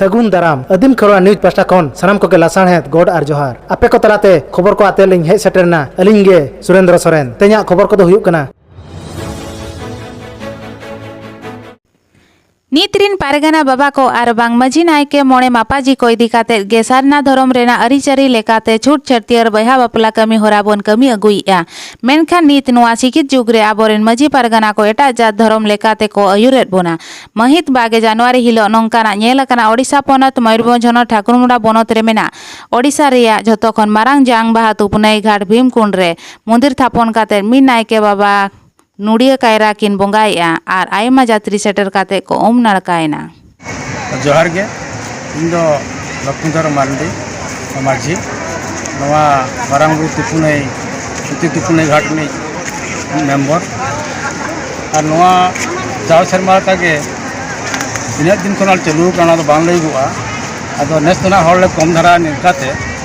ᱥᱟᱹᱜᱩᱱ ᱫᱟᱨᱟᱢ ᱟᱹᱫᱤᱢ ᱠᱷᱚᱨᱣᱟ ᱱᱤᱭᱩᱡᱽ ᱯᱟᱥᱴᱟ ᱠᱷᱚᱱ ᱥᱟᱱᱟᱢ ᱠᱚᱜᱮ ᱞᱟᱥᱟᱬᱦᱮᱫ ᱜᱚᱰ ᱟᱨ ᱡᱚᱦᱟᱨ ᱟᱯᱮ ᱠᱚ ᱛᱟᱞᱟᱛᱮ ᱠᱷᱚᱵᱚᱨ ᱠᱚ ᱟᱛᱮ ᱞᱤᱧ ᱦᱮᱡ ᱥᱮᱴᱮᱨᱱᱟ ᱟᱹᱞᱤᱧ ᱜᱮ ᱥᱩᱨᱮᱱᱫᱨᱚ ᱥᱚᱨᱮᱱ ᱛᱮᱦᱮᱧᱟᱜ ᱠᱷᱚᱵᱚᱨ ᱠᱚᱫᱚ ᱦᱩᱭᱩᱜ ᱠᱟᱱᱟ ᱱᱤᱛ ᱨᱤᱱ ᱯᱟᱨᱜᱟᱱᱟ ᱵᱟᱵᱟ ᱠᱚ ᱟᱨ ᱵᱟᱝ ᱢᱟᱹᱡᱷᱤ ᱱᱟᱭᱠᱮ ᱢᱚᱬᱮ ᱢᱟᱯᱟᱡᱤ ᱠᱚ ᱤᱫᱤ ᱠᱟᱛᱮ ᱜᱮ ᱥᱟᱨᱱᱟ ᱫᱷᱚᱨᱚᱢ ᱨᱮᱱᱟᱜ ᱟᱹᱨᱤᱪᱟᱹᱨᱤ ᱞᱮᱠᱟᱛᱮ ᱪᱷᱩᱴ ᱪᱷᱟᱹᱴᱭᱟᱹᱨ ᱵᱚᱭᱦᱟ ᱵᱟᱯᱞᱟ ᱠᱟᱹᱢᱤ ᱦᱚᱨᱟ ᱵᱚᱱ ᱠᱟᱹᱢᱤ ᱟᱹᱜᱩᱭᱮᱫᱼᱟ ᱢᱮᱱᱠᱷᱟᱱ ᱱᱤᱛ ᱱᱚᱣᱟ ᱥᱤᱠᱷᱤᱛ ᱡᱩᱜᱽ ᱨᱮ ᱟᱵᱚᱨᱮᱱ ᱢᱟᱹᱡᱷᱤ ᱯᱟᱨᱜᱟᱱᱟ ᱠᱚ ᱮᱴᱟᱜ ᱡᱟᱹᱛ ᱫᱷᱚᱨᱚᱢ ᱞᱮᱠᱟᱛᱮ ᱠᱚ ᱟᱹᱭᱩᱨᱮᱫ ᱵᱚᱱᱟ ᱢᱟᱹᱦᱤᱛ ᱵᱟᱜᱮ ᱡᱟᱱᱩᱣᱟᱨᱤ ᱦᱤᱞᱚᱜ ᱱᱚᱝᱠᱟᱱᱟᱜ ᱧᱮᱞ ᱟᱠᱟᱱᱟ ᱳᱰᱤᱥᱟ ᱯᱚᱱᱚᱛ ᱢᱚᱭᱩᱨᱵᱷᱚᱸᱡᱽ ᱦᱚᱱᱚᱛ ᱴᱷᱟᱠᱩᱨᱢᱩᱰᱟ ᱵᱚᱱᱚᱛ ᱨᱮ ᱢᱮᱱᱟᱜ ᱳᱰᱤᱥᱟ ᱨᱮᱭᱟᱜ ᱡᱷᱚᱛᱚ ᱠᱷᱚᱱ ᱢᱟᱨᱟᱝ ᱡᱟᱝ ᱵᱟᱦᱟ ᱛᱩᱯᱱᱟᱹᱭ ᱜᱷᱟᱴ ᱵᱷᱤᱢᱠᱩᱸᱰ ᱨᱮ ᱢᱚᱱᱫᱤᱨ ᱛᱷᱟᱯᱚᱱ ᱠᱟᱛᱮᱫ ᱢᱤᱫ ᱱᱟᱭᱠᱮ ᱵᱟᱵᱟ ᱱᱚᱲᱤᱭᱟᱹ ᱠᱟᱭᱨᱟ ᱠᱤᱱ ᱵᱚᱸᱜᱟᱭᱮᱫᱼᱟ ᱟᱨ ᱟᱭᱢᱟ ᱡᱟᱛᱨᱤ ᱥᱮᱴᱮᱨ ᱠᱟᱛᱮᱫ ᱠᱚ ᱩᱢ ᱱᱟᱲᱠᱟᱭᱮᱱᱟ᱾ ᱡᱚᱦᱟᱨ ᱜᱮ ᱤᱧ ᱫᱚ ᱞᱚᱠᱷᱢᱤᱫᱷᱚᱨ ᱢᱟᱨᱰᱤ ᱢᱟᱹᱡᱷᱤ ᱱᱚᱣᱟ ᱢᱟᱨᱟᱝ ᱵᱩᱨᱩ ᱛᱤᱯᱩᱱᱟᱹᱭ ᱥᱩᱛᱤ ᱛᱤᱯᱩᱱᱟᱹᱭ ᱜᱷᱟᱴ ᱨᱤᱱᱤᱡ ᱢᱮᱢᱵᱚᱨ ᱟᱨ ᱱᱚᱣᱟ ᱡᱟᱣ ᱥᱮᱨᱢᱟ ᱞᱮᱠᱟᱜᱮ ᱛᱤᱱᱟᱹᱜ ᱫᱤᱱ ᱠᱷᱚᱱᱟᱜ ᱪᱟᱹᱞᱩ ᱟᱠᱟᱱᱟ ᱚᱱᱟ ᱫᱚ ᱵᱟᱝ ᱞᱟᱹᱭᱚᱜᱚᱜᱼᱟ ᱟᱫᱚ ᱱᱮᱥ ᱫᱚ ᱱᱟᱦᱟᱜ ᱦᱚᱲ ᱞᱮ ᱠᱚᱢ ᱫᱷᱟᱨᱟ ᱧᱚᱜ ᱠᱟᱛᱮᱫ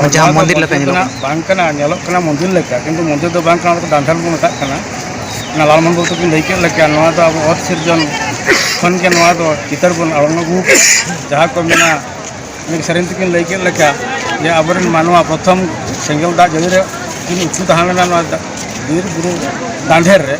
ᱚ ᱱᱚᱣᱟ ᱡᱟᱦᱟᱸ ᱫᱚ ᱢᱚᱱᱫᱤᱨ ᱞᱮᱠᱟ ᱢᱚᱱᱫᱤᱞ ᱧᱮᱞᱚᱜ ᱨᱮᱱᱟᱜ ᱠᱟᱱᱟ ᱵᱟᱝ ᱠᱟᱱᱟ ᱧᱮᱞᱚᱜ ᱠᱟᱱᱟ ᱢᱚᱱᱫᱤᱨ ᱞᱮᱠᱟ ᱠᱤᱱᱛᱩ ᱢᱚᱱᱫᱤᱨ ᱫᱚ ᱵᱟᱝ ᱠᱟᱱᱟ ᱚᱱᱟ ᱫᱚ ᱰᱟᱱᱰᱟᱞ ᱵᱚᱱ ᱢᱮᱛᱟᱜ ᱠᱟᱱᱟ ᱚᱱᱟ ᱞᱟᱞ ᱢᱚᱱᱫᱤᱞ ᱛᱟᱹᱠᱤᱱ ᱞᱟᱹᱭ ᱠᱮᱫ ᱞᱮᱠᱟ ᱱᱚᱣᱟ ᱫᱚ ᱟᱵᱚ ᱚᱛ ᱥᱤᱨᱡᱚᱱ ᱠᱷᱚᱱ ᱜᱮ ᱱᱚᱣᱟ ᱫᱚ ᱪᱤᱛᱟᱹᱨ ᱵᱚᱱ ᱟᱬᱜᱚ ᱟᱹᱜᱩ ᱠᱟᱜᱼᱟ ᱡᱟᱦᱟᱸ ᱠᱚ ᱢᱮᱱᱟ ᱢᱤᱫ ᱥᱮᱨᱮᱧ ᱛᱮᱠᱤᱱ ᱞᱟᱹᱭ ᱠᱮᱫ ᱞᱮᱠᱟ ᱡᱮ ᱟᱵᱚᱨᱮᱱ ᱢᱟᱱᱣᱟ ᱯᱨᱚᱛᱷᱚᱢ ᱥᱮᱸᱜᱮᱞ ᱫᱟᱜ ᱡᱟᱹᱲᱤ ᱨᱮ ᱠᱤᱱ ᱩᱛᱩ ᱛᱟᱦᱮᱸ ᱞᱮᱱᱟ ᱱᱚᱣᱟ ᱵᱤᱨ ᱵᱩᱨᱩ ᱫᱟᱱᱫᱷᱮᱨ ᱨᱮ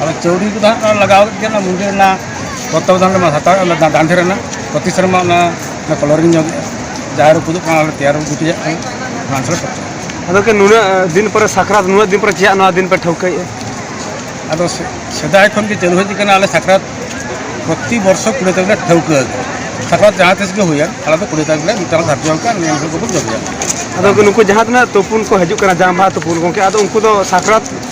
ᱟᱫᱚ ᱪᱟᱹᱣᱰᱤ ᱠᱚᱫᱚ ᱦᱟᱸᱜ ᱚᱱᱟ ᱞᱟᱜᱟᱣ ᱠᱮᱫ ᱜᱮᱭᱟ ᱚᱱᱟ ᱢᱩᱱᱫᱤᱨ ᱨᱮᱱᱟᱜ ᱛᱚᱛᱛᱟᱵᱚᱫᱟᱱ ᱨᱮᱢᱟ ᱦᱟᱛᱟᱣ ᱚᱱᱟ ᱫᱟᱸᱫᱷᱮ ᱨᱮᱱᱟᱜ ᱯᱨᱚᱛᱤ ᱥᱮᱨᱢᱟ ᱚᱱᱟ ᱚᱱᱟ ᱠᱚᱞᱚᱨᱤᱝ ᱧᱚᱜᱮᱜᱼᱟ ᱡᱟᱦᱟᱸ ᱨᱮ ᱯᱩᱫᱩᱜ ᱠᱟᱱᱟ ᱚᱱᱟ ᱛᱮᱭᱟᱨ ᱜᱩᱴᱤᱭᱟᱜ ᱠᱟᱱᱟ ᱚᱱᱟ ᱦᱚᱸᱞᱮ ᱠᱚᱨᱟᱣᱟ ᱟᱫᱚ ᱠᱤ ᱱᱩᱱᱟᱹᱜ ᱫᱤᱱ ᱯᱚᱨᱮ ᱥᱟᱠᱨᱟᱛ ᱱᱩᱱᱟᱹᱜ ᱫᱤᱱ ᱯᱚᱨᱮ ᱪᱮᱫᱟᱜ ᱱᱚᱣᱟ ᱫᱤᱱ ᱯᱮ ᱴᱷᱟᱹᱣᱠᱟᱹᱭᱮᱫᱼᱟ ᱟᱫᱚ ᱥᱮ- ᱥᱮᱫᱟᱭ ᱠᱷᱚᱱ ᱜᱮ ᱪᱟᱹᱞᱩ ᱦᱮᱡ ᱟᱠᱟᱱᱟ ᱟᱞᱮ ᱥᱟᱠᱨᱟᱛ ᱯᱨᱚᱛᱤ ᱵᱚᱨᱥᱚ ᱠᱩᱲᱤ ᱛᱟᱹᱨᱤᱠᱷ ᱞᱮ ᱴᱷᱟᱹᱣᱠᱟᱹ ᱟᱠᱟᱫᱟ ᱥᱟᱠᱨᱟᱛ ᱡᱟᱦᱟᱸ ᱛᱤᱥ ᱜᱮ ᱦᱩᱭᱮᱱ ᱟᱞᱮ ᱫᱚ ᱠᱩᱲᱤ ᱛᱟᱹᱨᱤᱠᱷ ᱞᱮ ᱢᱤᱫᱴᱟᱝ ᱞᱮ ᱫᱷᱟᱨᱡᱚ ᱟᱠᱟᱫ ᱱᱤᱭᱟᱹ ᱠᱚᱵᱚᱱ ᱡᱚᱢᱮᱭᱟ ᱟᱫᱚ ᱠᱤ ᱱᱩᱠᱩ ᱡᱟᱦᱟᱸ ᱛᱤᱱᱟᱹᱜ ᱛᱩᱯᱩᱱ ᱠᱚ ᱦᱤᱡᱩᱜ ᱠᱟᱱᱟ ᱡᱟᱢᱵᱟ ᱛᱩᱯᱩᱱ ᱜᱚᱝᱠᱮ ᱟᱫᱚ ᱩᱱᱠᱩ ᱫᱚ ᱥᱟᱠᱨᱟᱛ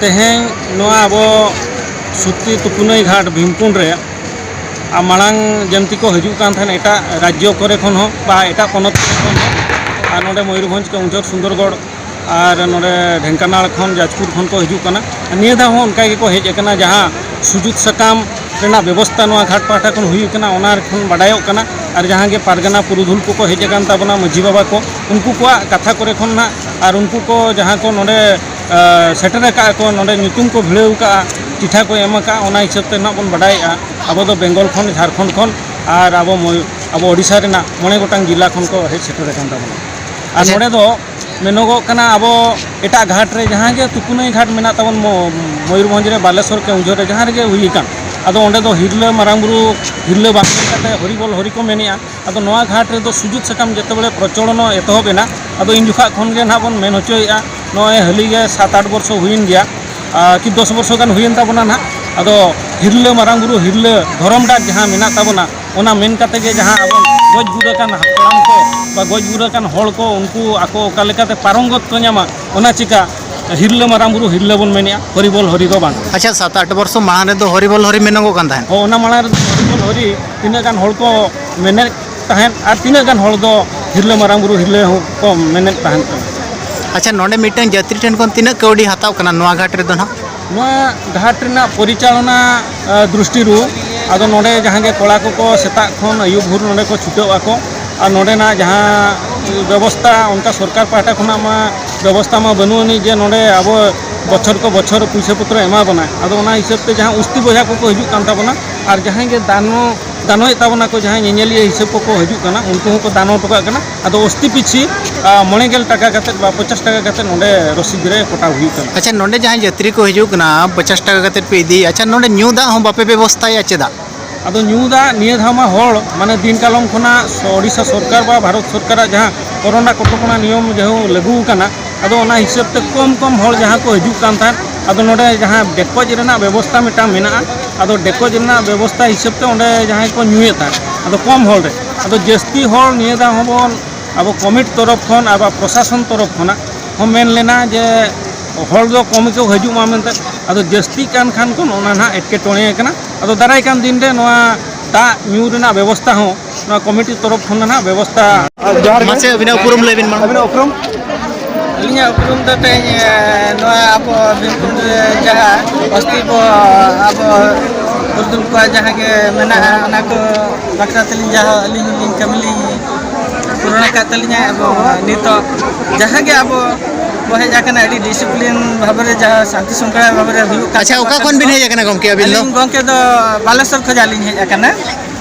ᱛᱮᱦᱮᱧ ᱱᱚᱣᱟ ᱟᱵᱚ ᱥᱩᱛᱤ ᱛᱩᱯᱩᱱᱟᱹᱭ ᱜᱷᱟᱴ ᱵᱷᱤᱢᱠᱩᱸᱰ ᱨᱮ ᱟᱨ ᱢᱟᱲᱟᱝ ᱡᱮᱢᱛᱤ ᱠᱚ ᱦᱤᱡᱩᱜ ᱠᱟᱱ ᱛᱟᱦᱮᱸᱱ ᱮᱴᱟᱜ ᱨᱟᱡᱽᱡᱚ ᱠᱚᱨᱮ ᱠᱷᱚᱱ ᱦᱚᱸ ᱵᱟ ᱮᱴᱟᱜ ᱯᱚᱱᱚᱛ ᱠᱚᱨᱮ ᱠᱷᱚᱱ ᱦᱚᱸ ᱟᱨ ᱱᱚᱰᱮ ᱢᱚᱭᱩᱨᱵᱷᱚᱸᱡᱽ ᱠᱮᱣᱚᱱᱡᱷᱚᱨ ᱥᱩᱱᱫᱚᱨᱜᱚᱲ ᱟᱨ ᱱᱚᱰᱮ ᱰᱷᱮᱝᱠᱟᱱᱟᱲ ᱠᱷᱚᱱ ᱡᱟᱡᱽᱯᱩᱨ ᱠᱷᱚᱱ ᱠᱚ ᱦᱤᱡᱩᱜ ᱠᱟᱱᱟ ᱟᱨ ᱱᱤᱭᱟᱹ ᱫᱷᱟᱣ ᱦᱚᱸ ᱚᱱᱠᱟ ᱜᱮᱠᱚ ᱦᱮᱡ ᱟᱠᱟᱱᱟ ᱡᱟᱦᱟᱸ ᱥᱩᱡᱩᱜᱽ ᱥᱟᱠᱟᱢ ᱨᱮᱱᱟᱜ ᱵᱮᱵᱚᱥᱛᱷᱟ ᱱᱚᱣᱟ ᱜᱷᱟᱴ ᱯᱟᱦᱴᱟ ᱠᱷᱚᱱ ᱦᱩᱭ ᱟᱠᱟᱱᱟ ᱚᱱᱟ ᱠᱷᱚᱱ ᱵᱟᱰᱟᱭᱚᱜ ᱠᱟᱱᱟ ᱟᱨ ᱡᱟᱦᱟᱸ ᱜᱮ ᱯᱟᱨᱜᱟᱱᱟ ᱯᱩᱨᱩᱫᱷᱩᱞ ᱠᱚᱠᱚ ᱦᱮᱡ ᱟᱠᱟᱱ ᱛᱟᱵᱚᱱᱟ ᱢᱟᱺᱡᱷᱤ ᱵᱟᱵᱟ ᱠᱚ ᱩᱱᱠᱩ ᱠᱚᱣᱟᱜ ᱠᱟᱛᱷᱟ ᱠᱚᱨᱮ ᱠᱷᱚᱱ ᱦᱟᱸᱜ ᱟᱨ ᱩᱱᱠᱩ ᱠᱚ ᱡᱟᱦᱟᱸ ᱠᱚ ᱱᱚᱰᱮ ᱥᱮᱴᱮᱨ ᱟᱠᱟᱫ ᱠᱚ ᱱᱚᱰᱮ ᱧᱩᱛᱩᱢ ᱠᱚ ᱵᱷᱤᱲᱟᱹᱣ ᱟᱠᱟᱫᱼᱟ ᱪᱤᱴᱷᱟ ᱠᱚ ᱮᱢ ᱟᱠᱟᱫᱼᱟ ᱚᱱᱟ ᱦᱤᱥᱟᱹᱵ ᱛᱮ ᱱᱟᱦᱟᱜ ᱵᱚᱱ ᱵᱟᱰᱟᱭᱮᱫᱼᱟ ᱟᱵᱚ ᱫᱚ ᱵᱮᱝᱜᱚᱞ ᱠᱷᱚᱱ ᱡᱷᱟᱲᱠᱷᱚᱸᱰ ᱠᱷᱚᱱ ᱟᱨ ᱟᱵᱚ ᱟᱵᱚ ᱳᱰᱤᱥᱟ ᱨᱮᱱᱟᱜ ᱢᱚᱬᱮ ᱜᱚᱴᱟᱝ ᱡᱮᱞᱟ ᱠᱷᱚᱱ ᱠᱚ ᱦᱮᱡ ᱥᱮᱴᱮᱨ ᱟᱠᱟᱱ ᱛᱟᱵᱚᱱᱟ ᱟᱨ ᱱᱚᱰᱮ ᱫᱚ ᱢᱮᱱᱚᱜᱚᱜ ᱠᱟᱱᱟ ᱟᱵᱚ ᱮᱴᱟᱜ ᱜᱷᱟᱴ ᱨᱮ ᱡᱟᱦᱟᱸ ᱜᱮ ᱛᱩᱯᱩᱱᱟᱹᱭ ᱜᱷᱟᱴ ᱢᱮᱱᱟᱜ ᱛᱟᱵᱚᱱ ᱢᱚᱭᱩᱨᱵᱷᱚᱸᱡᱽ ᱨᱮ ᱵᱟᱞᱮᱥᱚᱨ ᱠᱮᱣᱡᱷᱚᱨ ᱨᱮ ᱡᱟᱦᱟᱸ ᱨᱮᱜᱮ ᱦᱩᱭ ᱟᱠᱟᱱ ᱟᱫᱚ ᱚᱸᱰᱮ ᱫᱚ ᱦᱤᱨᱞᱟᱹ ᱢᱟᱨᱟᱝ ᱵᱩᱨᱩ ᱦᱤᱨᱞᱟᱹ ᱵᱟᱝ ᱢᱮᱱ ᱠᱟᱛᱮᱫ ᱦᱚᱨᱤᱵᱚᱞ ᱦᱚᱨᱤ ᱠᱚ ᱢᱮᱱᱮᱫᱼᱟ ᱟᱫᱚ ᱱᱚᱣᱟ ᱜᱷᱟᱴ ᱨᱮᱫᱚ ᱥᱩᱡᱩᱛ ᱥᱟᱠᱟᱢ ᱡᱮᱛᱮᱵᱮᱲᱮ ᱯᱨᱚᱪᱚᱞᱚᱱ ᱮᱛᱚᱦᱚᱵ ᱮᱱᱟ ᱟᱫᱚ ᱤᱱ ᱡᱚᱠᱷᱟᱜ ᱠᱷᱚᱱ ᱜᱮ ᱱᱟᱦᱟᱜ ᱵᱚᱱ ᱢᱮᱱ ᱦᱚᱪᱚᱭᱮᱫᱼᱟ ᱱᱚᱜᱼᱚᱭ ᱦᱟᱹᱞᱤ ᱜᱮ ᱥᱟᱛ ᱟᱴ ᱵᱚᱨᱥᱚ ᱦᱩᱭᱮᱱ ᱜᱮᱭᱟ ᱠᱤ ᱫᱚᱥ ᱵᱚᱨᱥᱚ ᱜᱟᱱ ᱦᱩᱭᱮᱱ ᱛᱟᱵᱚᱱᱟ ᱱᱟᱦᱟᱜ ᱟᱫᱚ ᱦᱤᱨᱞᱟᱹ ᱢᱟᱨᱟᱝ ᱵᱩᱨᱩ ᱦᱤᱨᱞᱟᱹ ᱫᱷᱚᱨᱚᱢ ᱰᱟᱠ ᱡᱟᱦᱟᱸ ᱢᱮᱱᱟᱜ ᱛᱟᱵᱚᱱᱟ ᱚᱱᱟ ᱢᱮᱱ ᱠᱟᱛᱮ ᱜᱮ ᱡᱟᱦᱟᱸ ᱟᱵᱚ ᱜᱚᱡ ᱜᱩᱨ ᱟᱠᱟᱱ ᱦᱟᱯᱲᱟᱢ ᱠᱚ ᱵᱟ ᱜᱚᱡ ᱜᱩᱨ ᱟᱠᱟᱱ ᱦᱚᱲ ᱠᱚ ᱩᱱᱠᱩ ᱟᱠᱚ ᱚᱠᱟ ᱞᱮᱠᱟᱛᱮ ᱯᱟᱨᱚᱝᱜᱚᱛ ᱠᱚ ᱧᱟᱢᱟ ᱚᱱᱟ ᱪᱤᱠᱟ ᱦᱤᱨᱞᱟᱹ ᱢᱟᱨᱟᱝ ᱵᱩᱨᱩ ᱦᱤᱨᱞᱟᱹ ᱵᱚᱱ ᱢᱮᱱᱮᱜᱼᱟ ᱦᱚᱨᱤᱵᱚᱞ ᱦᱚᱨᱤ ᱫᱚ ᱵᱟᱝ ᱟᱪᱪᱷᱟ ᱥᱟᱛ ᱟᱴ ᱵᱚᱨᱥᱚ ᱢᱟᱲᱟᱝ ᱨᱮᱫᱚ ᱦᱚᱨᱤᱵᱚᱞ ᱦᱚᱨᱤ ᱢᱮᱱᱚᱜᱚᱜ ᱠᱟᱱ ᱛᱟᱦᱮᱸᱫ ᱦᱚᱸ ᱚᱱᱟ ᱢᱟᱲᱟᱝ ᱨᱮᱫᱚ ᱦᱚᱨᱤᱵᱚᱞ ᱦᱚᱨᱤ ᱛᱤᱱᱟᱹᱜ ᱜᱟᱱ ᱦᱚᱲ ᱠᱚ ᱢᱮᱱᱮᱫ ᱛᱟᱦᱮᱸᱫ ᱟᱨ ᱛᱤᱱᱟᱹᱜ ᱜᱟᱱ ᱦᱚᱲ ᱫᱚ ᱦᱤᱨᱞᱟᱹ ᱢᱟᱨᱟᱝ ᱵᱩᱨᱩ ᱦᱤᱨᱞᱟᱹ ᱦᱚᱸ ᱠᱚ ᱢᱮᱱᱮᱫ ᱛᱟᱦᱮᱸᱫ ᱠᱟᱱᱟ ᱟᱪᱪᱷᱟ ᱱᱚᱰᱮ ᱢᱤᱫᱴᱟᱝ ᱡᱟᱛᱨᱤ ᱴᱷᱮᱱ ᱠᱷᱚᱱ ᱛᱤᱱᱟᱹᱜ ᱠᱟᱹᱣᱰᱤ ᱦᱟᱛᱟᱣ ᱠᱟᱱᱟ ᱱᱚᱣᱟ ᱜᱷᱟᱴ ᱨᱮᱫᱚ ᱱᱟᱦᱟᱜ ᱱᱚᱣᱟ ᱜᱷᱟᱴ ᱨᱮᱱᱟᱜ ᱯᱚᱨᱤᱪᱟᱞᱚᱱᱟ ᱟᱸ, ᱫᱨᱤᱥᱴᱤ ᱨᱩ ᱟᱫᱚ ᱱᱚᱰᱮ ᱡᱟᱦᱟᱸ ᱜᱮ ᱠᱚᱲᱟ ᱠᱚᱠᱚ ᱥᱮᱛᱟᱜ ᱠᱷᱚᱱ ᱟᱹᱭᱩᱵ ᱵᱷᱳᱨ ᱱᱚᱰᱮ ᱠᱚ ᱪᱷᱩᱴᱟᱹᱣ ᱟᱠᱚ ᱟᱨ ᱱᱚᱰᱮᱱᱟᱜ ᱡᱟᱦᱟᱸ ᱵᱮᱵᱚᱥᱛᱟ ᱚᱱᱠᱟ ᱥᱚᱨᱠᱟᱨ ᱯᱟᱦᱴᱟ ᱠᱷᱚᱱᱟᱜ ᱢᱟ ᱵᱮᱵᱚᱥᱛᱟ ᱢᱟ ᱵᱟᱹᱱᱩᱜ ᱟᱹᱱᱤᱡ ᱡᱮ ᱱᱚᱰᱮ ᱟᱵᱚ ᱵᱚᱪᱷᱚᱨ ᱠᱚ ᱵᱚᱪᱷᱚᱨ ᱯᱩᱭᱥᱟᱹ ᱯᱚᱛᱨᱚ ᱮᱢᱟ ᱵᱚᱱᱟ ᱟᱫᱚ ᱚᱱᱟ ᱦᱤᱥᱟᱹᱵ ᱛᱮ ᱡᱟᱦᱟᱸ ᱩᱥᱛᱤ ᱵᱚᱭᱦᱟ ᱠᱚᱠᱚ ᱦᱤᱡᱩᱜ ᱠᱟᱱ ᱛᱟᱵᱚᱱᱟ ᱟᱨ ᱡᱟᱦᱟᱸᱭ ᱜᱮ ᱫᱟᱱᱚ ᱫᱟᱱᱚᱭᱮᱫ ᱛᱟᱵᱚᱱᱟ ᱠᱚ ᱡᱟᱦᱟᱸᱭ ᱧᱮᱧᱮᱞᱤᱭᱟᱹ ᱦᱤᱥᱟᱹᱵ ᱠᱚᱠᱚ ᱦᱤᱡᱩᱜ ᱠᱟᱱᱟ ᱩᱱᱠᱩ ᱦᱚᱸᱠᱚ ᱫᱟᱱᱚ ᱦᱚᱴᱚ ᱠᱟᱜ ᱠᱟᱱᱟ ᱟᱫᱚ ᱚᱥᱛᱤ ᱯᱤᱪᱷᱤ ᱢᱚᱬᱮ ᱜᱮᱞ ᱴᱟᱠᱟ ᱠᱟᱛᱮ ᱵᱟ ᱯᱚᱧᱪᱟᱥ ᱴᱟᱠᱟ ᱠᱟᱛᱮ ᱱᱚᱰᱮ ᱨᱚᱥᱤᱫ ᱨᱮ ᱠᱚᱴᱟᱣ ᱦᱩᱭᱩᱜ ᱠᱟᱱᱟ ᱟᱪᱪᱷᱟ ᱱᱚᱰᱮ ᱡᱟᱦᱟᱸᱭ ᱡᱟᱛᱨᱤ ᱠᱚ ᱦᱤᱡᱩᱜ ᱠᱟᱱᱟ ᱯᱚᱧᱪᱟᱥ ᱴᱟᱠᱟ ᱠᱟᱛᱮ ᱯᱮ ᱤᱫᱤ ᱟᱪᱪᱷᱟ ᱱᱚᱰᱮ ᱧᱩ ᱫᱟᱜ ᱦᱚᱸ ᱵᱟᱯᱮ ᱵᱮᱵᱚᱥᱛᱷᱟᱭᱟ ᱪᱮᱫᱟᱜ ᱟᱫᱚ ᱧᱩ ᱫᱟᱜ ᱱᱤᱭᱟᱹ ᱫᱷᱟᱣ ᱢᱟ ᱦᱚᱲ ᱢᱟᱱᱮ ᱫᱤᱱ ᱠᱟᱞᱚᱢ ᱠᱷᱚᱱᱟᱜ ᱳᱰᱤᱥᱟ ᱥᱚᱨᱠᱟᱨ ᱵᱟ ᱵᱷᱟᱨᱚᱛ ᱥᱚᱨᱠᱟᱨᱟᱜ ᱡᱟᱦᱟᱸ ᱠᱚᱨᱳᱱᱟ ᱠᱚᱴᱚᱠᱚᱱᱟ ᱱᱤᱭᱚᱢ ᱡᱟᱦᱟᱸ ᱞᱟᱹᱜᱩ ᱟᱠᱟᱱᱟ ᱟᱫᱚ ᱚᱱᱟ ᱦᱤᱥᱟᱹᱵ ᱛᱮ ᱠᱚᱢ ᱠᱚᱢ ᱦᱚᱲ ᱡᱟᱦᱟᱸ ᱠᱚ ᱦᱤᱡᱩᱜ ᱠᱟᱱ ᱛᱟᱦᱮᱸᱫ ᱟᱫᱚ ᱱᱚᱰᱮ ᱡᱟᱦᱟᱸ ᱰᱮᱠᱚᱡ ᱨᱮᱱᱟᱜ ᱵᱮᱵᱚᱥᱛᱟ ᱢᱤᱫᱴᱟᱝ ᱢᱮᱱᱟᱜᱼᱟ ᱟᱫᱚ ᱰᱮᱠᱚᱡ ᱨᱮᱱᱟᱜ ᱵᱮᱵᱚᱥᱛᱟ ᱦᱤᱥᱟᱹᱵ ᱛᱮ ᱚᱸᱰᱮ ᱡᱟᱦᱟᱸᱭ ᱠᱚ ᱧᱩᱭᱮᱫ ᱛᱟᱦᱮᱸᱫ ᱟᱫᱚ ᱠᱚᱢ ᱦᱚᱲ ᱨᱮ ᱟᱫᱚ ᱡᱟᱹᱥᱛᱤ ᱦᱚᱲ ᱱᱤᱭᱟᱹ ᱫᱷᱟᱣ ᱦᱚᱸᱵᱚᱱ ᱟᱵᱚ ᱠᱚᱢᱤᱴ ᱛᱚᱨᱚᱯ ᱠᱷᱚᱱ ᱟᱵᱚ ᱯᱨᱚᱥᱟᱥᱚᱱ ᱛᱚᱨᱚᱯ ᱠᱷᱚᱱᱟᱜ ᱦᱚᱸ ᱢᱮᱱ ᱞᱮᱱᱟ ᱡᱮ ᱦᱚᱲ ᱫᱚ ᱠᱚᱢ ᱜᱮᱠᱚ ᱦᱤᱡᱩᱜ ᱢᱟ ᱢᱮᱱᱛᱮ ᱟᱫᱚ ᱡᱟᱹᱥᱛᱤ ᱠᱟᱱ ᱠᱷᱟᱱ ᱠᱚ ᱚᱱᱟ ᱱᱟᱦᱟᱜ ᱮᱴᱠᱮᱴᱚᱬᱮ ᱠᱟᱱᱟ ᱟᱫᱚ ᱫᱟᱨᱟᱭ ᱠᱟᱱ ᱫᱤᱱ ᱨᱮ ᱱᱚᱣᱟ ᱫᱟᱜ ᱧᱩ ᱨᱮᱱᱟᱜ ᱵᱮᱵᱚᱥᱛᱟ ᱦᱚᱸ ᱱᱚᱣᱟ ᱠᱚᱢᱤᱴᱤ ᱛᱚᱨᱚᱯ ᱠᱷᱚᱱ ᱱᱟᱦᱟᱜ ᱵᱮᱵᱚᱥᱛᱟ ᱡᱚᱦᱟᱨ ᱢᱟᱥᱮ ᱟᱹᱵᱤᱱᱟᱜ ᱩᱯᱨᱩᱢ ᱞᱟᱹᱭ ᱵᱤᱱ ᱢᱟ ᱟᱹᱵᱤᱱᱟᱜ ᱩᱯᱨᱩᱢ ᱟᱹᱞᱤᱧᱟᱜ ᱩᱯᱨᱩᱢ ᱫᱚ ᱛᱮᱦᱮᱧ ᱱᱚᱣᱟ ᱟᱵᱚ ᱵᱤᱨᱵᱷᱩᱢ ᱨᱮ ᱡᱟᱦᱟᱸ ᱚᱥᱛᱤ ᱵᱚ ᱟᱵᱚ ᱯᱩᱨᱩᱫᱷᱩᱞ ᱠᱚᱣᱟᱜ ᱡᱟᱦᱟᱸ ᱜᱮ ᱢᱮᱱᱟᱜᱼᱟ ᱚᱱᱟ ᱠᱚ ᱵᱟᱠᱷᱨᱟ ᱛᱮᱞᱤᱧ ᱡᱟᱦᱟᱸ ᱟᱹᱞᱤᱧ ᱞᱤᱧ ᱠᱟᱹᱢᱤ ᱞᱤᱧ ᱯᱩᱨᱚᱱ ᱟᱠᱟᱫ ᱛᱟᱹᱞᱤᱧᱟ ᱮᱵᱚᱝ ᱱᱤᱛᱚᱜ ᱡᱟᱦᱟᱸ ᱜᱮ ᱟᱵᱚ ᱵᱚ ᱦᱮᱡ ᱟᱠᱟᱱᱟ ᱟᱹᱰᱤ ᱰᱤᱥᱤᱯᱞᱤᱱ ᱵᱷᱟᱵᱮ ᱡᱟᱦᱟᱸ ᱥᱟᱱᱛᱤ ᱥᱚᱝᱠᱷᱟᱲ ᱵᱷᱟᱵᱮ ᱦᱩᱭᱩᱜ ᱠᱟᱱᱟ ᱟᱪᱪᱷᱟ ᱚᱠᱟ ᱠᱷᱚᱱ ᱵᱤᱱ ᱦᱮᱡ ᱟᱠᱟᱱᱟ ᱜᱚᱢᱠᱮ ᱟᱹᱵᱤᱱ ᱫᱚ ᱜᱚᱢᱠᱮ ᱫᱚ ᱵᱟᱞᱮᱥᱚᱨ ᱠᱷᱚᱱᱟᱜ ᱞᱤᱧ ᱦᱮᱡ ᱟᱠᱟᱱᱟ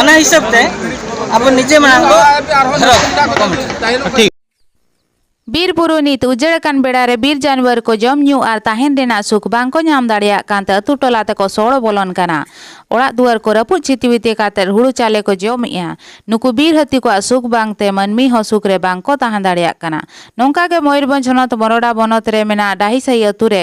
ᱚᱱᱟ ᱦᱤᱥᱟᱹᱵ ᱛᱮ ᱟᱵᱚ ᱱᱤᱡᱮ ᱢᱟᱲᱟᱝ ᱫᱚ ᱴᱷᱤᱠ ᱵᱤᱨ ᱵᱩᱨᱩ ᱱᱤᱛ ᱩᱡᱟᱹᱲ ᱟᱠᱟᱱ ᱵᱮᱲᱟ ᱨᱮ ᱵᱤᱨ ᱡᱟᱱᱣᱟᱨ ᱠᱚ ᱡᱚᱢ ᱧᱩ ᱟᱨ ᱛᱟᱦᱮᱱ ᱨᱮᱱᱟᱜ ᱥᱩᱠ ᱵᱟᱝ ᱠᱚ ᱧᱟᱢ ᱫᱟᱲᱮᱭᱟᱜ ᱠᱟᱱ ᱛᱮ ᱟᱹᱛᱩ ᱴᱚᱞᱟ ᱛᱮᱠᱚ ᱥᱚᱲᱚ ᱵᱚᱞᱚᱱ ᱠᱟᱱᱟ ᱚᱲᱟᱜ ᱫᱩᱣᱟᱹᱨ ᱠᱚ ᱨᱟᱹᱯᱩᱫ ᱪᱷᱤᱛᱤᱵᱤᱛᱤ ᱠᱟᱛᱮ ᱦᱩᱲᱩ ᱪᱟᱣᱞᱮ ᱠᱚ ᱡᱚᱢᱮᱜᱼᱟ ᱱᱩᱠᱩ ᱵᱤᱨ ᱦᱟᱹᱛᱤ ᱠᱚᱣᱟᱜ ᱥᱩᱠ ᱵᱟᱝ ᱛᱮ ᱢᱟᱹᱱᱢᱤ ᱦᱚᱸ ᱥᱩᱠ ᱨᱮ ᱵᱟᱝ ᱠᱚ ᱛᱟᱦᱮᱸ ᱫᱟᱲᱮᱭᱟᱜ ᱠᱟᱱᱟ ᱱᱚᱝᱠᱟ ᱜᱮ ᱢᱚᱭᱩᱨᱵᱷᱚᱸᱡᱽ ᱦᱚᱱᱚᱛ ᱢᱚᱨᱚᱰᱟ ᱵᱚᱱᱚᱛ ᱨᱮ ᱢᱮᱱᱟᱜ ᱰᱟᱦᱤᱥᱟᱦᱤ ᱟᱹᱛᱩ ᱨᱮ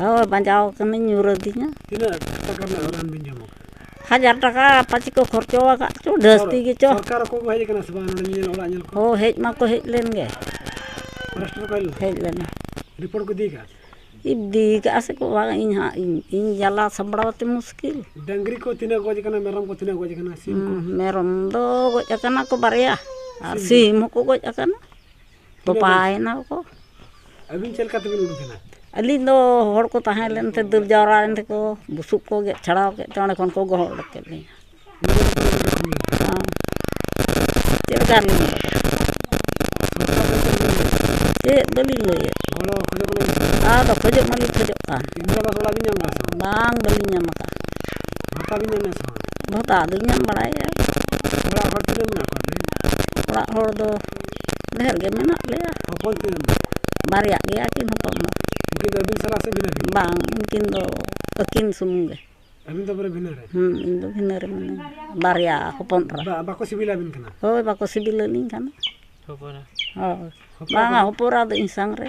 ᱦᱳᱭ ᱵᱟᱡᱟᱣ ᱠᱟᱹᱱᱟᱹᱧ ᱧᱩᱨ ᱟᱹᱫᱤᱧᱟ ᱦᱟᱡᱟᱨ ᱴᱟᱠᱟ ᱟᱯᱟᱪᱤ ᱠᱚ ᱠᱷᱚᱨᱪᱟ ᱟᱠᱟᱫ ᱪᱚ ᱡᱟᱹᱥᱛᱤ ᱜᱮᱪᱚ ᱦᱳᱭ ᱦᱮᱡ ᱢᱟᱠᱚ ᱦᱮᱡ ᱞᱮᱱ ᱜᱮ ᱦᱮᱡ ᱞᱮᱱᱟ ᱨᱤᱯᱳᱨᱴ ᱠᱚ ᱤᱫᱤ ᱠᱟᱜᱼᱟ ᱤᱫᱤ ᱠᱟᱜᱼᱟ ᱥᱮᱠᱚ ᱵᱟᱝ ᱤᱧ ᱦᱟᱸᱜ ᱤᱧ ᱡᱟᱞᱟ ᱥᱟᱢᱵᱽᱲᱟᱣ ᱛᱮ ᱢᱩᱥᱠᱤᱞ ᱰᱟᱹᱝᱨᱤ ᱠᱚ ᱛᱤᱱᱟᱹᱜ ᱜᱚᱡ ᱠᱟᱱᱟ ᱢᱮᱨᱚᱢ ᱠᱚ ᱛᱤᱱᱟᱹᱜ ᱜᱚᱡ ᱠᱟᱱᱟ ᱢᱮᱨᱚᱢ ᱫᱚ ᱜᱚᱡ ᱠᱟᱱᱟ ᱠᱚ ᱵᱟᱨᱭᱟ ᱟᱨ ᱥᱤᱢ ᱦᱚᱸᱠᱚ ᱜᱚᱡ ᱠᱟᱱᱟ ᱛᱚᱯᱟᱭᱮᱱᱟ ᱠᱚ ᱟᱹᱵᱤᱱ ᱪᱮᱫ ᱞᱮᱠᱟ ᱛᱮᱵᱤᱱ ᱩᱰᱩᱠ ᱮᱱᱟ ᱟᱹᱞᱤᱧ ᱫᱚ ᱦᱚᱲ ᱠᱚ ᱛᱟᱦᱮᱸ ᱞᱮᱱ ᱛᱮ ᱫᱟᱹᱲ ᱡᱟᱣᱨᱟ ᱞᱮᱱ ᱛᱮᱠᱚ ᱵᱩᱥᱩᱵ ᱠᱚ ᱜᱮᱫ ᱪᱷᱟᱲᱟᱣ ᱠᱮᱫ ᱛᱮ ᱚᱸᱰᱮ ᱠᱷᱚᱱ ᱠᱚ ᱜᱚᱦᱚᱲ ᱩᱰᱩᱠ ᱠᱮᱫ ᱞᱤᱧᱟᱹ ᱪᱮᱫ ᱞᱮᱠᱟ ᱨᱮᱞᱤᱧ ᱩᱰᱩᱠ ᱪᱮᱫ ᱵᱟᱹᱞᱤᱧ ᱞᱟᱹᱭᱮᱫ ᱟᱫᱚ ᱠᱷᱚᱡᱚᱜ ᱢᱟᱞᱤᱧ ᱠᱷᱚᱡᱚᱜ ᱠᱟᱱ ᱵᱟᱝ ᱵᱟᱹᱞᱤᱧ ᱧᱟᱢ ᱟᱠᱟᱫ ᱵᱷᱟᱛᱟ ᱫᱚᱞᱤᱧ ᱧᱟᱢ ᱵᱟᱲᱟᱭᱮᱫᱼᱟ ᱚᱲᱟᱜ ᱦᱚᱲ ᱫᱚ ᱰᱷᱮᱨ ᱜᱮ ᱢᱮᱱᱟᱜ ᱞᱮᱭᱟ ᱦᱚᱯᱚᱱ ᱛᱤᱱᱟᱹᱜ ᱵᱟᱨᱭᱟ ᱜᱮᱭᱟ ᱠᱤᱱ ᱦᱚᱯᱚᱱ ᱫᱚ ᱩᱱᱠᱤᱱ ᱫᱚ ᱟᱹᱵᱤᱱ ᱥᱟᱞᱟᱜ ᱥᱮ ᱵᱷᱤᱱᱟᱹ ᱵᱷᱤᱱᱟᱹ ᱵᱟᱝ ᱩᱱᱠᱤᱱ ᱫᱚ ᱟᱹᱠᱤᱱ ᱥᱩᱢᱩᱝ ᱜᱮ ᱟᱹᱵᱤᱱ ᱫᱚ ᱯᱩᱨᱟᱹ ᱵᱷᱤᱱᱟᱹ ᱨᱮ ᱦᱮᱸ ᱤᱧ ᱫᱚ ᱵᱷᱤᱱᱟᱹ ᱨᱮ ᱢᱤᱱᱟᱹᱧᱟ ᱵᱟᱨᱭᱟ ᱦᱚᱯᱚᱱ ᱮᱨᱟ ᱵᱟ- ᱵᱟᱠᱚ ᱥᱤᱵᱤᱞᱟᱵᱤᱱ ᱠᱟᱱᱟ ᱦᱳᱭ ᱵᱟᱠᱚ ᱥᱤᱵᱤᱞᱟᱹᱞᱤᱧ ᱠᱟᱱᱟ ᱦᱳᱭ ᱵᱟᱝᱟ ᱦᱚᱯᱚᱱ ᱮᱨᱟ ᱫᱚ ᱤᱧ ᱥᱟᱝ ᱨᱮ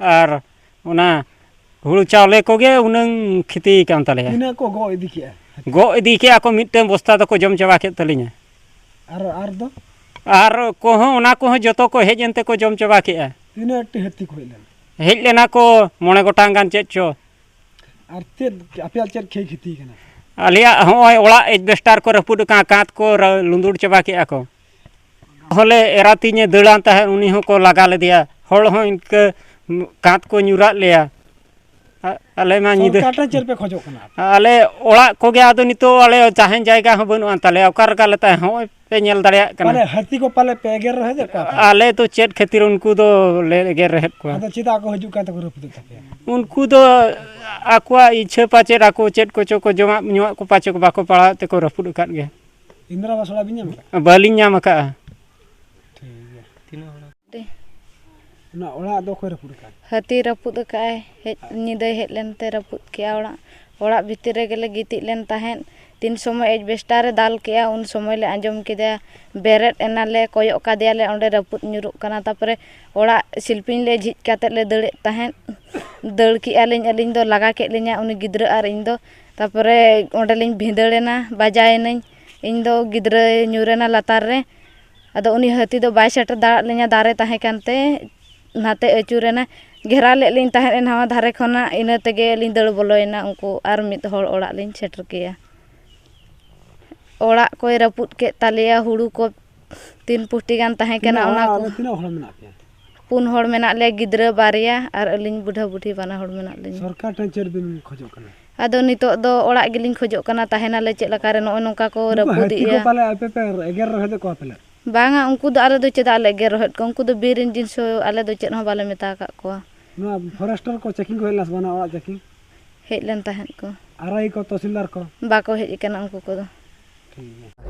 ᱟᱨ ᱚᱱᱟ ᱦᱩᱲᱩ ᱪᱟᱣᱞᱮ ᱠᱚᱜᱮ ᱩᱱᱟᱹᱝ ᱠᱷᱚᱛᱤ ᱟᱠᱟᱱ ᱛᱟᱞᱮᱭᱟ ᱛᱤᱱᱟᱹᱜ ᱠᱚ ᱜᱚᱜ ᱤᱫᱤ ᱠᱮᱜᱼᱟ ᱜᱚᱜ ᱤᱫᱤ ᱠᱮᱜᱼᱟ ᱠᱚ ᱢᱤᱫᱴᱟᱹᱝ ᱵᱚᱥᱛᱟ ᱫᱚᱠᱚ ᱡᱚᱢ ᱪᱟᱵᱟ ᱠᱮᱫ ᱛᱟᱹᱞᱤᱧᱟ ᱟᱨ ᱟᱨ ᱫᱚ ᱟᱨ ᱠᱚᱦᱚᱸ ᱚᱱᱟ ᱠᱚᱦᱚᱸ ᱡᱚᱛᱚ ᱠᱚ ᱦᱮᱡ ᱮᱱ ᱛᱮᱠᱚ ᱡᱚᱢ ᱪᱟᱵᱟ ᱠᱮᱜᱼᱟ ᱛᱤᱱᱟᱹᱜ ᱴᱤ ᱦᱟᱹᱛᱤ ᱠᱚ ᱦᱮᱡ ᱞᱮᱱᱟ ᱦᱮᱡ ᱞᱮᱱᱟ ᱠᱚ ᱢᱚᱬᱮ ᱜᱚᱴᱟᱝ ᱜᱟᱱ ᱪᱮᱫ ᱪᱚ ᱟᱨ ᱪᱮᱫ ᱟᱯᱮᱭᱟᱜ ᱪᱮᱫ ᱠᱷᱮᱭ ᱠᱷᱚᱛᱤ ᱠᱟᱱᱟ ᱟᱞᱮᱭᱟᱜ ᱦᱚᱸᱜᱼᱚᱭ ᱚᱲᱟᱜ ᱮᱥᱵᱮᱥᱴᱟᱨ ᱠᱚ ᱨᱟᱹᱯᱩᱫ ᱟᱠᱟᱱᱟ ᱠᱟᱸᱛ ᱠᱚ ᱞᱩᱸᱫᱩᱲ ᱪᱟᱵᱟ ᱠᱮᱜᱼᱟ ᱠᱚ ᱦᱚᱞᱮ ᱮᱨᱟ ᱛᱤᱧᱮ ᱫᱟᱹᱲᱟᱱ ᱛᱟᱦᱮᱸᱫ ᱩᱱᱤ ᱦᱚᱸᱠᱚ ᱞᱟᱜᱟ ᱞᱮᱫᱮᱭᱟ ᱦᱚᱲ ᱦᱚᱸ ᱤᱱᱠᱟᱹ ᱠᱟᱸᱛ ᱠᱚ ᱧᱩᱨᱟᱫ ᱞᱮᱭᱟ ᱟᱞᱮ ᱢᱟ ᱧᱤᱫᱟᱹ ᱪᱮᱫ ᱯᱮ ᱠᱷᱚᱡᱚᱜ ᱠᱟᱱᱟ ᱟᱞᱮ ᱚᱲᱟᱜ ᱠᱚᱜᱮ ᱟᱫᱚ ᱱᱤᱛᱚᱜ ᱟᱞᱮ ᱛᱟᱦᱮᱱ ᱡᱟᱭᱜᱟ ᱦᱚᱸ ᱵᱟᱹᱱᱩᱜ ᱟᱱ ᱛᱟᱞᱮᱭᱟ ᱚᱠᱟ ᱨᱮᱜᱮ ᱟᱞᱮ ᱛᱟᱦᱮᱸ ᱦᱚᱸᱜᱼᱚᱭ ᱯᱮ ᱧᱮᱞ ᱫᱟᱲᱮᱭᱟᱜ ᱠᱟᱱᱟ ᱦᱟᱹᱛᱤ ᱠᱚ ᱯᱟᱞᱮ ᱯᱮ ᱮᱜᱮᱨ ᱨᱚᱦᱮᱫ ᱠᱚᱣᱟ ᱟᱞᱮ ᱫᱚ ᱪᱮᱫ ᱠᱷᱟᱹᱛᱤᱨ ᱩᱱᱠᱩ ᱫᱚ ᱞᱮ ᱮᱜᱮᱨ ᱨᱚᱦᱮᱫ ᱠᱚᱣᱟ ᱟᱫᱚ ᱪᱮᱫᱟᱜ ᱠᱚ ᱦᱤᱡᱩᱜ ᱠᱟᱱ ᱛᱮᱠᱚ ᱨᱟᱹᱯᱩᱫ ᱛᱟᱯᱮᱭᱟ ᱩᱱᱠᱩ ᱫᱚ ᱟᱠᱚᱣᱟᱜ ᱤᱪᱪᱷᱟᱹ ᱯᱟᱪᱮᱫ ᱟᱠᱚ ᱪᱮᱫ ᱠᱚᱪᱚ ᱠᱚ ᱡᱚᱢᱟᱜ ᱧᱩᱣᱟᱜ ᱠᱚ ᱯᱟᱪᱮᱫ ᱵᱟᱠᱚ ᱯᱟᱲᱟᱣᱮᱫ ᱛᱮᱠᱚ ᱨᱟᱹᱯᱩᱫ ᱟᱠᱟᱫ ᱜᱮᱭᱟ ᱤᱱᱫᱨᱟ ᱟᱵᱟᱥ ᱚᱲᱟᱜ ᱵᱤᱱ ᱧᱟᱢ ᱟᱠᱟᱫᱼᱟ ᱵᱟᱹᱞᱤᱧ ᱧᱟᱢ ᱟᱠᱟᱫᱼᱟ ᱴᱷᱤᱠ ᱜᱮᱭᱟ ᱛᱤᱱᱟᱹᱜ ᱦᱚᱲ ᱚᱱᱟ ᱚᱲᱟᱜ ᱫᱚ ᱚᱠᱚᱭ ᱨᱟᱹᱯᱩᱫ ᱟᱠᱟᱫᱼᱟ ᱦᱟᱹᱛᱤ ᱨᱟᱹᱯᱩᱫ ᱟᱠᱟᱫᱼᱟᱭ ᱦᱮᱡ ᱧᱤᱫᱟᱹᱭ ᱦᱮᱡ ᱞᱮᱱᱛᱮ ᱨᱟᱹᱯᱩᱫ ᱠᱮᱫᱼᱟᱭ ᱚᱲᱟᱜ ᱚᱲᱟᱜ ᱵᱷᱤᱛᱤᱨ ᱨᱮᱜᱮ ᱞᱮ ᱜᱤᱛᱤᱡ ᱞᱮᱱ ᱛᱟᱦᱮᱸᱫ ᱛᱤᱱ ᱥᱚᱢᱚᱭ ᱮᱰᱵᱮᱥᱴᱟᱨ ᱮ ᱫᱟᱞ ᱠᱮᱫᱼᱟ ᱩᱱ ᱥᱚᱢᱚᱭ ᱞᱮ ᱟᱸᱡᱚᱢ ᱠᱮᱫᱟ ᱵᱮᱨᱮᱫ ᱮᱱᱟᱞᱮ ᱠᱚᱭᱚᱜ ᱠᱟᱫᱮᱭᱟᱞᱮ ᱚᱸᱰᱮ ᱨᱟᱹᱯᱩᱫ ᱧᱩᱨᱩᱜ ᱠᱟᱱᱟ ᱛᱟᱨᱯᱚᱨᱮ ᱚᱲᱟᱜ ᱥᱤᱞᱯᱤᱧ ᱞᱮ ᱡᱷᱤᱡ ᱠᱟᱛᱮᱫ ᱞᱮ ᱫᱟᱹᱲᱮᱫ ᱛᱟᱦᱮᱸᱫ ᱫᱟᱹᱲ ᱠᱮᱫᱼᱟ ᱞᱤᱧ ᱟᱹᱞᱤᱧ ᱫᱚ ᱞᱟᱜᱟ ᱠᱮᱫ ᱞᱤᱧᱟᱹᱭ ᱩᱱᱤ ᱜᱤᱫᱽᱨᱟᱹ ᱟᱨ ᱤᱧ ᱫᱚ ᱛᱟᱨᱯᱚᱨᱮ ᱚᱸᱰᱮ ᱞᱤᱧ ᱵᱷᱤᱸᱫᱟᱹᱲ ᱮᱱᱟ ᱵᱟᱡᱟᱣ ᱮᱱᱟᱹᱧ ᱤᱧ ᱫᱚ ᱜᱤᱫᱽᱨᱟᱹᱭ ᱧᱩᱨ ᱮᱱᱟ ᱞᱟᱛᱟᱨ ᱨᱮ ᱟᱫᱚ ᱩᱱᱤ ᱦᱟᱹᱛᱤ ᱫᱚ ᱵᱟᱭ ᱥᱮᱴᱮᱨ ᱫᱟᱲᱮᱭᱟᱜ ᱞᱤᱧᱟ ᱫᱟᱨᱮ ᱛᱟᱦᱮᱸ ᱠᱟᱱᱛᱮ ᱚᱱᱟᱛᱮ ᱟᱹᱪᱩᱨ ᱮᱱᱟᱭ ᱜᱷᱮᱨᱟᱣ ᱞᱮᱫ ᱞᱤᱧ ᱛᱟᱦᱮᱸᱫ ᱮ ᱱᱟᱣᱟ ᱫᱷᱟᱨᱮ ᱠᱷᱚᱱᱟᱜ ᱤᱱᱟᱹ ᱛᱮᱜᱮ ᱞᱤᱧ ᱫᱟᱹᱲ ᱵᱚᱞᱚᱭᱮᱱᱟ ᱩᱱᱠᱩ ᱟᱨ ᱢᱤᱫ ᱦᱚᱲ ᱚᱲᱟᱜ ᱞᱤᱧ ᱥᱮᱴᱮᱨ ᱠᱮᱭᱟ ᱚᱲᱟᱜ ᱠᱚᱭ ᱨᱟᱹᱯᱩᱫ ᱠᱮᱫ ᱛᱟᱞᱮᱭᱟ ᱦᱩᱲᱩ ᱠᱚ ᱛᱤᱱ ᱯᱩᱴᱤ ᱜᱟᱱ ᱛᱟᱦᱮᱸ ᱠᱟᱱᱟ ᱚᱱᱟ ᱠᱚ ᱛᱤᱱᱟᱹᱜ ᱦᱚᱲ ᱢᱮᱱᱟᱜ ᱯᱮᱭᱟ ᱯᱩᱱ ᱦᱚᱲ ᱢᱮᱱᱟᱜ ᱞᱮᱭᱟ ᱜᱤᱫᱽᱨᱟᱹ ᱵᱟᱨᱭᱟ ᱟᱨ ᱟᱹᱞᱤᱧ ᱵᱩᱰᱷᱟᱹ ᱵᱩᱰᱷᱤ ᱵᱟᱱᱟ ᱦᱚᱲ ᱢᱮᱱᱟᱜ ᱞᱤᱧᱟ ᱥᱚᱨᱠᱟᱨ ᱴᱷᱮᱱ ᱪᱮᱫ ᱵᱤᱱ ᱠᱷᱚᱡᱚᱜ ᱠᱟᱱᱟ ᱟᱫᱚ ᱱᱤᱛᱚᱜ ᱫᱚ ᱚᱲᱟᱜ ᱜᱮᱞᱤᱧ ᱠᱷᱚᱡᱚᱜ ᱠᱟᱱᱟ ᱛᱟᱦᱮᱱᱟᱞᱮ ᱪᱮᱫ ᱞᱮᱠᱟ ᱨᱮ ᱱᱚᱜᱼᱚᱭ ᱱᱚᱝᱠᱟ ᱠᱚ ᱨᱟᱹᱯᱩᱫᱮᱜᱼᱟ ᱯᱟᱞᱮ ᱟᱯᱮ ᱯᱮ ᱮᱜᱮᱨ ᱨᱚᱦᱮᱫ ᱠᱚᱣᱟ ᱯᱟᱞᱮ ᱵᱟᱝᱟ ᱩᱱᱠᱩ ᱫᱚ ᱟᱞᱮ ᱫᱚ ᱪᱮᱫᱟᱜ ᱞᱮ ᱮᱜᱮᱨ ᱨᱚᱦᱮᱫ ᱠᱚᱣᱟ ᱩᱱᱠᱩ ᱫᱚ ᱵᱤᱨ ᱨᱮᱱ ᱡᱤᱱᱤᱥ ᱟᱞᱮ ᱫᱚ ᱪᱮᱫ ᱦᱚᱸ ᱵᱟᱞᱮ ᱢᱮᱛᱟ ᱟᱠᱟᱫ ᱠᱚᱣᱟ ᱱᱚᱣᱟ ᱯᱷᱚᱨᱮᱥᱴᱚᱨ ᱠᱚ ᱪᱮᱠᱤᱝ ᱠᱚ ᱦᱮᱡ ᱞᱮᱱᱟ ᱥᱮ ᱵᱟᱝ ᱚᱲᱟᱜ ᱪᱮᱠᱤᱝ ᱦᱮᱡ ᱞᱮᱱ ᱛᱟᱦᱮᱸᱫ ᱠᱚ ᱟᱨᱟᱭ ᱠᱚ ᱛᱚᱦᱥᱤᱞᱫᱟᱨ ᱠᱚ ᱵᱟᱠᱚ ᱦᱮᱡ ᱟᱠᱟᱱᱟ ᱩᱱᱠᱩ ᱠᱚᱫᱚ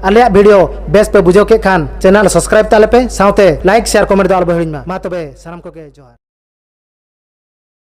ᱟᱞᱮᱭᱟᱜ ᱵᱷᱤᱰᱤᱭᱳ ᱵᱮᱥ ᱯᱮ ᱵᱩᱡᱷᱟᱹᱣ ᱠᱮᱫ ᱠᱷᱟᱱ ᱪᱮᱱᱮᱞ ᱥᱟᱵᱥᱠᱨᱟᱭᱤᱵ ᱛᱟᱞᱮ ᱯᱮ ᱥᱟᱶᱛᱮ ᱞᱟᱭᱤᱠ ᱥᱮᱭᱟᱨ ᱠᱚᱢᱮᱱᱴ ᱫᱚ ᱟᱞᱚ ᱯᱮ ᱦᱤᱲᱤᱧ ᱢᱟ ᱢᱟ ᱛᱚᱵᱮ ᱥᱟᱱᱟᱢ ᱠᱚᱜᱮ ᱡᱚᱦᱟᱨ